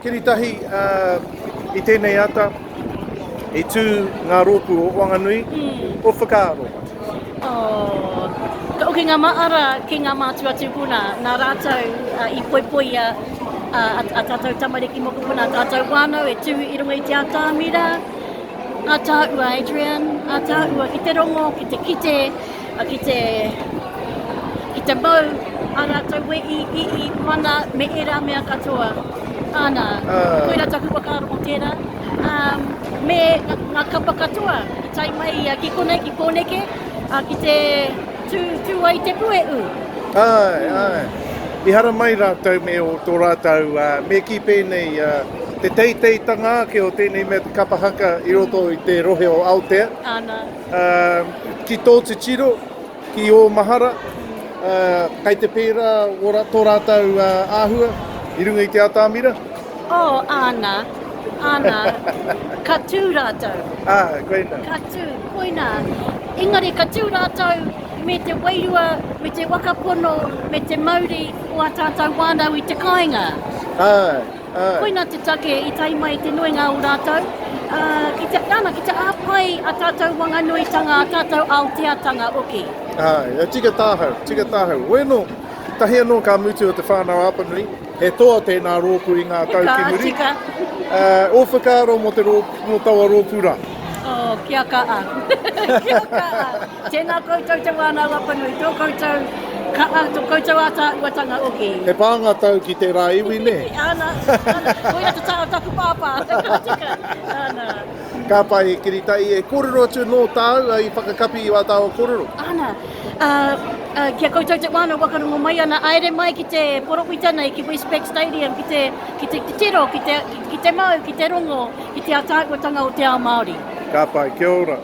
Kiri tahi i tēnei ata, i tū ngā rōpū o Wanganui, ko Whakaaro. Ka oke ngā maara ki ngā mātua tūpuna, nā rātou i poipoia a tātou tamariki mokopuna, a tātou whānau e tū i runga i te atamira, a tāua Adrian, a tāua ki te rongo, ki te kite, Ki te, ki te mau a ratou e i, i, i mana me era mea katoa. Ana, koira taku whakaaro mo tera. Um, me nga, nga kapa katoa i tai mai ia ki konei ki koneke, a ki te tu, tu ai te pue u. Ai, mm. ai. I hara mai rātou me o tō rātou, uh, me ki pēnei uh, te teiteitanga ake o tēnei mea te kapa haka i roto mm. i te rohe o Aotea. Ana. Ki tō titiro, ki ō mahara, kei te pērā tō rātou āhua i runga i te atamira? Oh, āna, āna, ka tū rātou. Ah, koina. Ka tū, koina. Engari ka tū rātou me te wairua, me te waka pono, me te mauri o a tātou wānau i te kāinga. Ah. Koina te take i tae mai te nuinga o rātou, ki te, nana, ki te āwhai a tātou wanganuitanga, a tātou Aoteatanga hoki. Āe, e tika tāhau, tika tāhau. Weno, tahi anō ka mutu o te whānau Apanui, he toa tēnā rōpū i ngā tau ki muri. Ka tika. Ō whakaaro mō te rōpū, mō taua rōpū rā? Oh, kia kaha. Kia kaha. Tēnā koutou te wānau Apanui, tō koutou kaha, tō koutou ātaahuatanga oki. He pānga tau ki tērā iwi, nē? Ana, ana, koia te taha o taku pāpā, ka tika, ana. Ka pai, he kiritai, e kōrero atu nō tāu i whakakapi i wā tāua kōrero. Ana, ā, ā, ki a koutou te wānau whakarongo mai ana, āere mai ki te porowhita nei, ki Westpac Stadium, ki te, ki te titiro, ki te, ki te mau, ki te rongo, ki te ātaahuatanga o te ao Māori. Ka pai, kia ora.